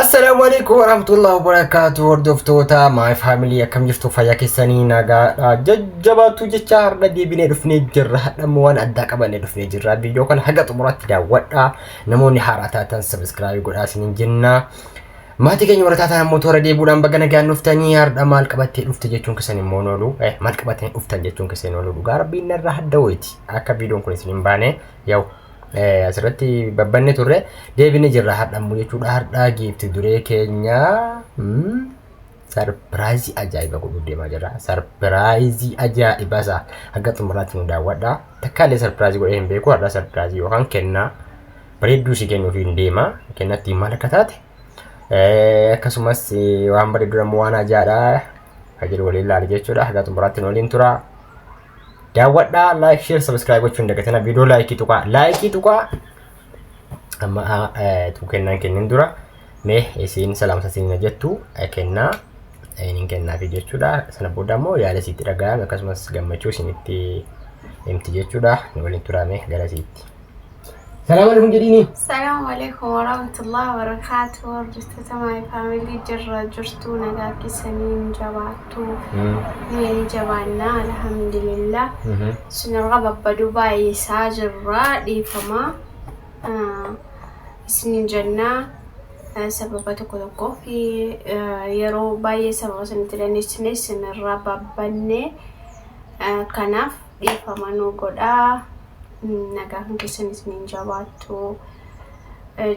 Assalaamu alaikum warahmatullahi wabarakatuh hordoftoota my family akkam jirtu fayyaa keessanii nagaadha jajjabaatu jecha har'a deebinee dhufnee jirra hadhammoo waan addaa qabannee dhufnee jirra viidiyoo kana haga xumuraatti daawwadha namoonni haaraa taatan sabiskiraayib godhaa isiniin jenna maatii keenya warra taatan ammoo toora deebuudhaan baga nagaan dhuftanii har'a maal qabattee dhufte jechuun keessan immoo noolu eh, maal qabattanii dhuftan jechuun keessan noolu dhugaa rabbiin narraa hadda wayti akka viidiyoon kun isin hin baane Yaw asirratti babbanne turre deebine jirra har'a immoo jechuudha har'a giifti duree keenya sarpiraayizii ajaa'ibaa godhuuf deemaa jirra sarpiraayizii ajaa'ibaa isaa hanga xumuraatti nu daawwadha takkaalee sarpiraayizii godhee hin beeku har'a sarpiraayizii yookaan kennaa bareedduu si kennuuf hin deema kennatti maal akka taate akkasumas waan bareedduu immoo waan ajaa'idha kan jedhu waliin ilaali jechuudha hanga xumuraatti nu waliin tura. daawwadhaa like share subscribe gochuu hin dagatina viidiyoo laayikii tuqaa laayikii tuqaa amma tuu kennaan kennin dura mee isiin salaamsa siin jettu kennaa inin kennaafi jechuudha sana booda immoo yaada isiitti dhaga'ame akkasumas gammachuu isinitti himti jechuudha waliin turaame gara isiitti. Salaam alaikum jedhiini. Salaamu alaikum warahmatullahi wabarakatuh hordoftoota my family jirra jirtuu nagaa keessanii hin jabaattu nuyi ni jabaannaa alhamdulillah isinirra babbaduu baay'isaa jirra dhiifama Ah, isinin jennaa ah, sababa tokko tokkoo fi ah, yeroo baay'ee sababa isinitti dandeessine isinirra babbanne Ah, kanaaf dhiifama nu godhaa nagaan keessan isiniin jabaattu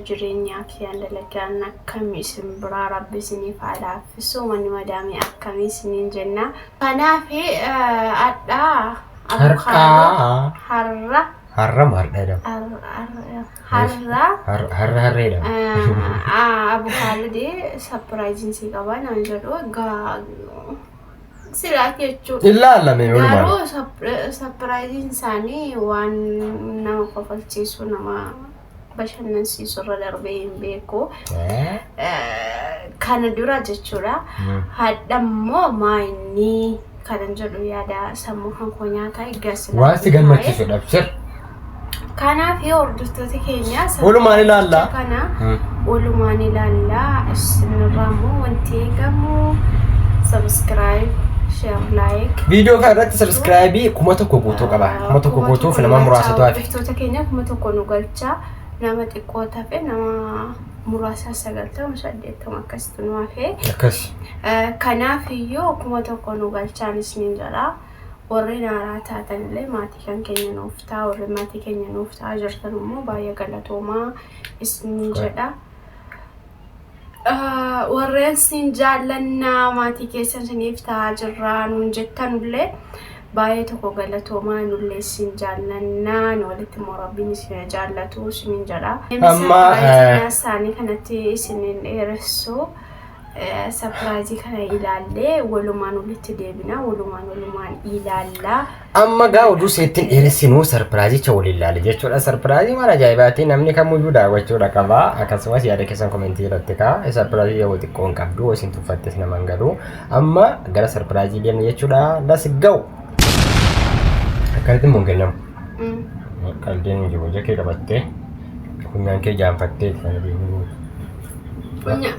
jireenyaa kiyyaan dalagaan akkamii isin biraa rabbi isiniif haa laaffisu manni madaamii akkamii isiniin jenna kanaaf adhaa Har'aa. har'a Har'a maal dheedhama? har'a har'a Har'a har'a harreedhama. abukaadhudee sapiraayiziin sii qabaa naan jedhu egaa Silaa jechuudha. Hin laalame walumaan. Garuu sapir- sapiraayiziin isaanii waan nama kofalchiisu nama bashannansiisu irra darbee hin beeku. Eh, Kana dura jechuudha. Mm. Hadha immoo maa inni kanan jedhu yaada sammuu kan koo nyaata egaa silaa Waan si gammachiisudha. Sir. Kanaaf yoo hordoftoota keenya Walumaan ilaalla. saganticha kana Hmm. walumaan ilaalla isinirraa immoo wanti eegamu subscribe share like Viidiyoo kana irratti sabiskiraayibii kuma tokko guutuu qaba. Kuma tokko Kuma guutuuf tokko nama nu muraasatu galchaa, hafe. Hordoftoota keenya kuma tokko nu galchaa nama xiqqoo tafe nama muraasa sagaltama saddeettama akkasitti nu hafe. Akkas. Eh, Kanaaf iyyuu kuma tokko nu galchaan isiniin jedha. Warreen haaraa taatan illee maatii kan keenya nuuf ta'a. Warreen maatii keenya nuuf ta'a jirtan immoo baay'ee galatoomaa isinii Shukran. jedha. Ah, Warreen siin jaallannaa maatii keessan isiniif ta'a jirraa nuun jettan illee baay'ee tokko galatoomaa nullee isin jaallannaa nu walitti immoo rabbiin isin haa jaallatu isiniin jedha. Amma, eh, Saanii kanatti isiniin dheeressu. Sapiraayizii kana ilaallee walumaan walitti deebina walumaan walumaan ilaalla. Amma gaa oduu seettiin dheeressinuu sarpiraayizicha waliin ilaali jechuudha. Sarpiraayizii mana ajaa'ibaati namni kamiyyuu daawwachuudha qaba. Akkasumas yaada keessan komentii irratti kaa sarpiraayizii yoo xiqqoo hin qabdu isin tuffattes nama hin galu. Amma gara sarpiraayizii deemna jechuudha. Let's go! Akkamitti immoo hin kennamu? Qalbiin hin jiru. Ija kee qabattee funyaan kee jaanfattee sana deemuu. Funya-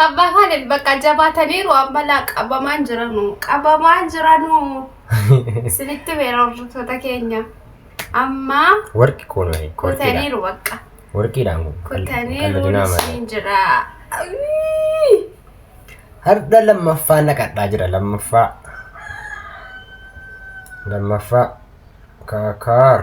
Abbaa Kaalid bakka jabaataniiru ammalaa qabamaan jiranu. Qabamaan jiranu. Isinitti beera hordoftoota keenya. Amma Warqi kun warqiidha. kutaniiru bakka. Warqiidhaan kun. Kutaniiru Qalladinaa malee. isiin jira. Ayii! Har'a lammaffaa naqadhaa jira lammaffaa. Lammaffaa. Kaakaar.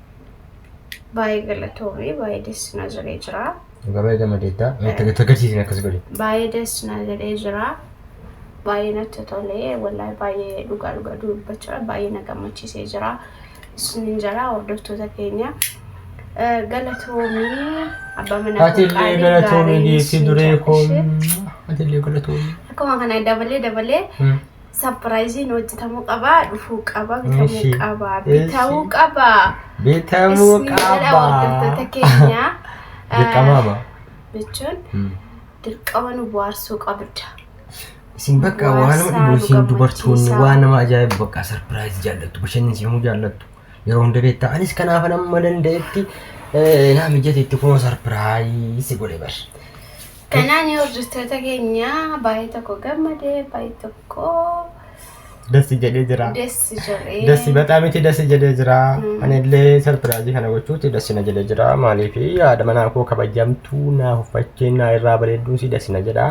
Baay'ee galatoomii baay'ee dessi na jedhee jira. Dhugaa baay'ee gammadeetta. Itti agarsiisin akkas godhe. Baay'ee dessi na jedhee jira. Baay'ee natti tolee wallahi baay'ee dhugaa dhugaa dubbachaa baay'ee na gammachiisee jira. Isinin jala hordoftoota keenya. Galatoomii abbaa manaa Ati illee qaalii galatoomii gaarii geessi siin duree jedha. koo. Ishee. Ati illee galatoomii. Akkuma kana dabalee dabalee Sapiraayiziin hojjetamuu qaba, dhufuu qaba, bitamuu Ishi. qaba, Ishi. bitamuu qaba. Bitamuu Isni jedha qaba. hordoftoota keenya. Dirqama qaba. Jechuun Hmm. dirqama nu bohaarsuu qabda. Isin bakka Bohaarsaa waan nama dhibu nu isin dubartoonni gammachiisaa. waan nama ajaa'ibu bakka sarpiraayizi jaallattu bashannansiifamuu jaallattu yeroo hunda beektaa anis kanaaf nama danda'etti eh, naa mijateetti kunoo sarpiraayizi godhe bar. Kanaan hordoftoota keenya baay'ee tokko gammade baay'ee tokko Dassi jedhee jira. dessi jedhee. Dassi bataam itti dassi jedhee jira. Mm. Ani illee sarpiraazii kana gochuutti dassi na jedhee jira. Maaliif haadha manaa koo kabajamtuu naa huffachuun naa irraa bareedduu si dassi na jedha.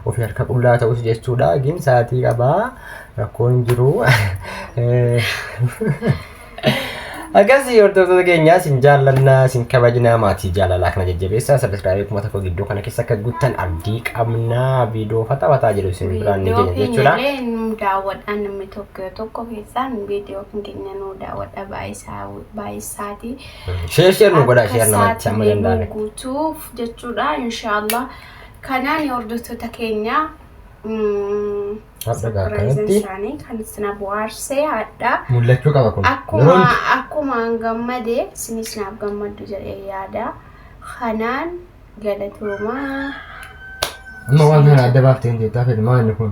Ofii harka qullaa ta'us jechuudha. Gin sa'aatii qabaa rakkoon jiru. Eh, Akkasii hordoftoota keenyaa isin jaallannaa isin kabajnaa maatii jaalalaa kana jajjabeessaa sabiskiraabii kuma tokko gidduu kana keessa akka guuttan abdii qabnaa viidiyoo fataa fataa jedhu isin biraan ni keenya jechuudha. Viidiyoo nu daawwadhaa namni tokko yoo tokko keessaan viidiyoo kan keenya nu daawwadha baay'isaati. Sheer sheer nu godhaa sheer namatti amma danda'ame. guutuuf jechuudha inshaallah. Kanaan hordoftoota keenyaa. Hadha gaa Sarpiraayiziin kanatti isaanii kan isin bu'aarsee hadhaa mul'achuu qaba kun. akkuma Yeroo hundi. akkuma an gammade isinis naaf gammaddu jedhee yaada kanaan galatoomaa Amma waan kana adda baaftee hin jeettaa fedhi maal inni kun?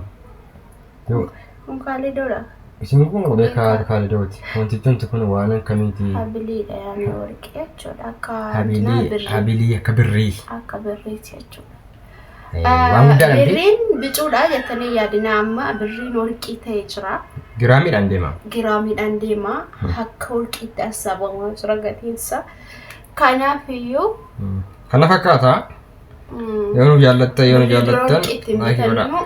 Yoo kun kaalidoodha isin kun qubee kaa'aati kaalidooti. Wantichumti kun waan akkamiiti? habiliidha yaani warqee jechuudha akka dinaa Habilii birrii habilii akka birrii. akka birriiti jechuudha Waan guddaa dhabdee. Birriin bicuudha jettanii yaadinaa amma birriin warqii ta'ee jira. Giraamiidhaan deema. Giraamiidhaan deema. Akka warqiitti hassaabamaa jira gatiinsa. Kanaaf iyyuu. Kana fakkaata. Yoo nu jaallattan yoo nu jaallattan laayikii godhaa.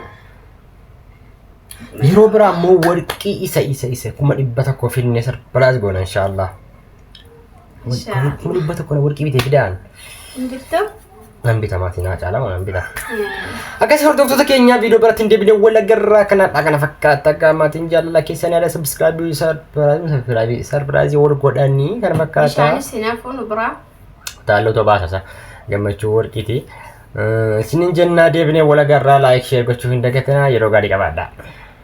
Yeroo biraa immoo warqii isa isa isa kuma dhibba tokko finnee sarpiraas goona inshaallah. Shaa. Kuma dhibba tokko na warqii bitee fidaan. Hin bittu? Nan bita maatii naa caalaa waan nan bita. Akkasii hordoftoota keenya viidiyoo biratti hin deebine wal agarraa kanaadha kana fakkaata akka maatiin jaalala keessan yaada sabskraabii sarpiraabii sarpiraazii wal godhanii kana fakkaata. Bishaanis hin hafu nu biraa. Taallota baasasa gammachuu warqiiti. Isinin jennaa deebine wal agarraa laayik sheer gochuu hin dagatinaa yeroo gaarii qabaadhaa.